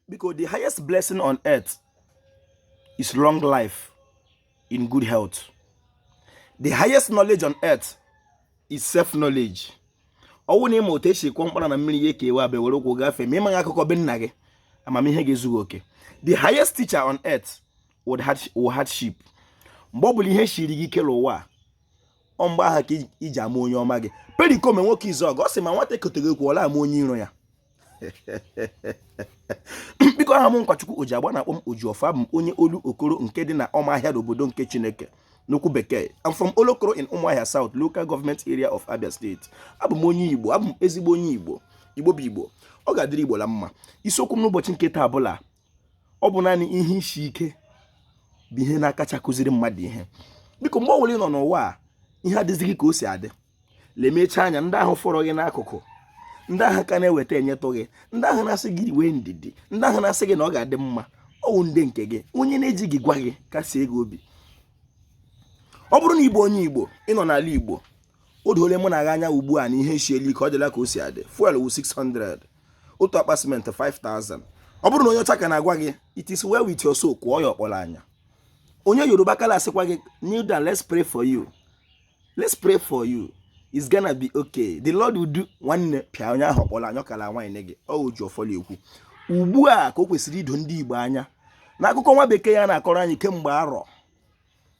because the highest blessing on earth is long life in good health the highest knowledge on earth is self knowledge ọ wụ na ị ma otu e si kụọ mkpara na mmiri ya ekewaa a bịa were ụkwụ gafee ma ị maghị akụkọ be nna gị amamihe gị ezughị oke the highest teacher on earth wụ hardship mgbe ọ bụla ihe shiri gị ike n'ụwa ọ mgbe ahụ ka i ji ama onye ọma gị Pericoma nwoke Izuọgụ ọ sị ma nwata ekoteghị okwu ọ la ama onye iro ya biko aha m nkwachukwu oji agba na-akpọ m oji ọfọ abụ m onye Olokoro nke dị na Ụmụahịa n'obodo nke chineke n'okwu bekee I'm from Olokoro in Umuahia South local government area of Abia State abụ m onye Igbo abụ m ezigbo onye Igbo Igbo bụ Igbo ọ ga-adịrị Igbo la mma isiokwu m n'ụbọchị nke taa bụ la ọ bụ naanị ihe isi ike bụ ihe na-akacha akụziri mmadụ ihe biko mgbe ọbụla ị nọ n'ụwa a ihe adịzighị ka o si adị lemecha anya ndị ahụ fọrọ gị n'akụkụ ndị ahụ ka na-eweta enyetụ gị ndị ahụ na-asị gị nwee ndidi ndị ahụ na-asị gị na ọ ga-adị mma ọ wụ ndị nke gị onye na-eji gị gwa gị kasie gị obi ọ bụrụ na ị bụ onye igbo ị nọ n'ala igbo o doole mụ na gị anya ugbu a na ihe esiele ike ọ dịla ka o si adị fuel wụ 600 otu akpa cement 5000 ọ bụrụ na onye ọcha ka na-agwa gị it is well with your soul kụọ ya ọkpọ la anya onye yoruba ka la-asịkwa gị kneel down let's pray for you let's pray for you it's gonna be okay the lord will do nwanne pịa onye ahụ ọkpọ la anya ọkara nwaanyị gị ọ oji ọfọ la-ekwu ugbu a ka o kwesịrị ido ndị igbo anya na akụkọ nwa bekee a na-akọrọ anyị kemgbe arọ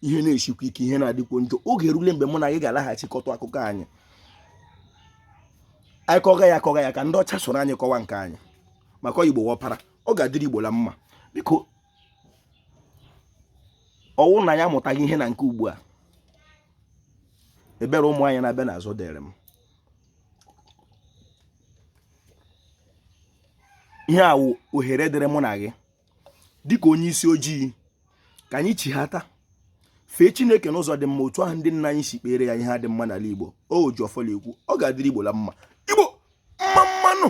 ihe na-esikwu ike ihe na-adịkwu njọ oge erule mgbe mụ na gị ga-alaghachikọta akụkọ anyị anyị kọga ya akọga ya ka ndị ọcha soro anyị kọwa nke anyị maka igbo wụ ọpara ọ ga-adịrị igbo la mma biko ọ wụrụ na anyị amụtaghị ihe na nke ugbu a ebere ụmụ anyị na-abịa n'azụ dịrị m ihe a wụ ohere dịrị mụ na gị dịka onye isi ojii ka anyị chighata fee chineke n'ụzọ dị mma otu ahụ ndị nna anyị si kpeere ya ihe dị mma n'ala igbo oji ọfọ la-ekwu ọ ga-adịrị igbo la mma igbo mma mma nụ